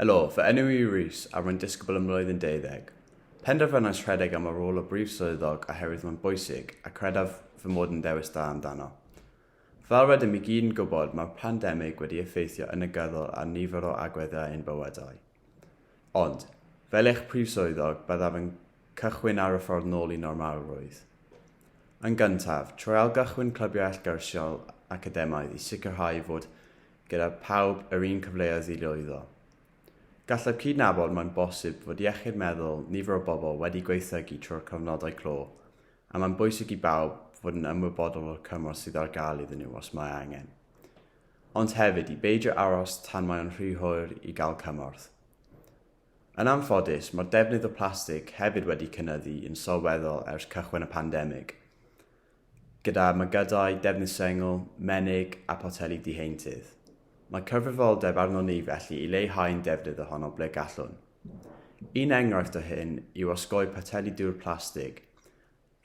Helo, fy enw i yw Rhys a rwy'n disgybl ym mlwyddyn deuddeg. Penderfynais rhedeg am y rôl o Brif Swyddog oherwydd mae'n bwysig a credaf fy mod yn ddewis da amdano. Fel rydym i gyd yn gwybod mae'r pandemig wedi effeithio yn negyddol ar nifer o agweddau ein bywydau. Ond, fel eich Prif Swyddog, byddaf yn cychwyn ar y ffordd nôl i normalrwydd. Yn gyntaf, trwy ailgychwyn clybiau allgyrsiol academaidd i sicrhau fod gyda phawb yr un cyfleoedd i lwyddo. Gallaf cydnabod mae'n bosib fod iechyd meddwl nifer o bobl wedi gwaethygu trwy'r cyfnodau clo, a mae'n bwysig i bawb fod yn ymwybodol o'r cymorth sydd ar gael iddyn nhw os mae angen. Ond hefyd i beidio aros tan mae o'n rhy hwyr i gael cymorth. Yn anffodus, mae'r defnydd o plastig hefyd wedi cynyddu yn sylweddol ers cychwyn y pandemig. gyda mygydau, defnydd sengl, menig a photeli diheintydd. Mae cyfrifoldeb arnon ni felly i leihau'n defnydd ohono ble gallwn. Un enghraifft o hyn yw osgoi poteli dŵr plastig.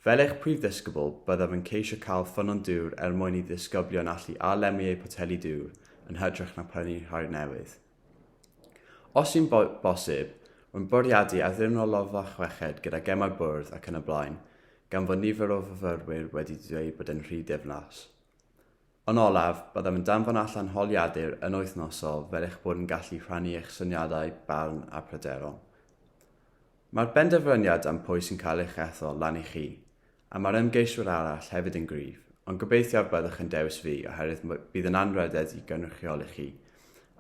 Fel eich prif ddisgybl, byddaf yn ceisio cael ffynnon dŵr er mwyn i ddisgyblion allu a-lemmu eu poteli dŵr yn hytrach na prynu rhai newydd. Os yw'n bosib, rwy'n bwriadu addurno loffa chweched gyda gemau bwrdd ac yn y blaen, gan fod nifer o fyfyrwyr wedi dweud bod e'n rhy diflas. Yn olaf, byddaf yn danfon allan holiadur yn wythnosol fel eich bod yn gallu rhannu eich syniadau, barn a pryderon. Mae'r benderfyniad am pwy sy'n cael eich ethol lan i chi, A mae'r ymgeiswyr arall hefyd yn gryf, ond gobeithio y byddwch yn dewis fi oherwydd bydd yn anrhydedd i gynrychioli chi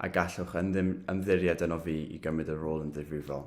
a gallwch ymddiried yno fi i gymryd y rôl yn ddifrifol.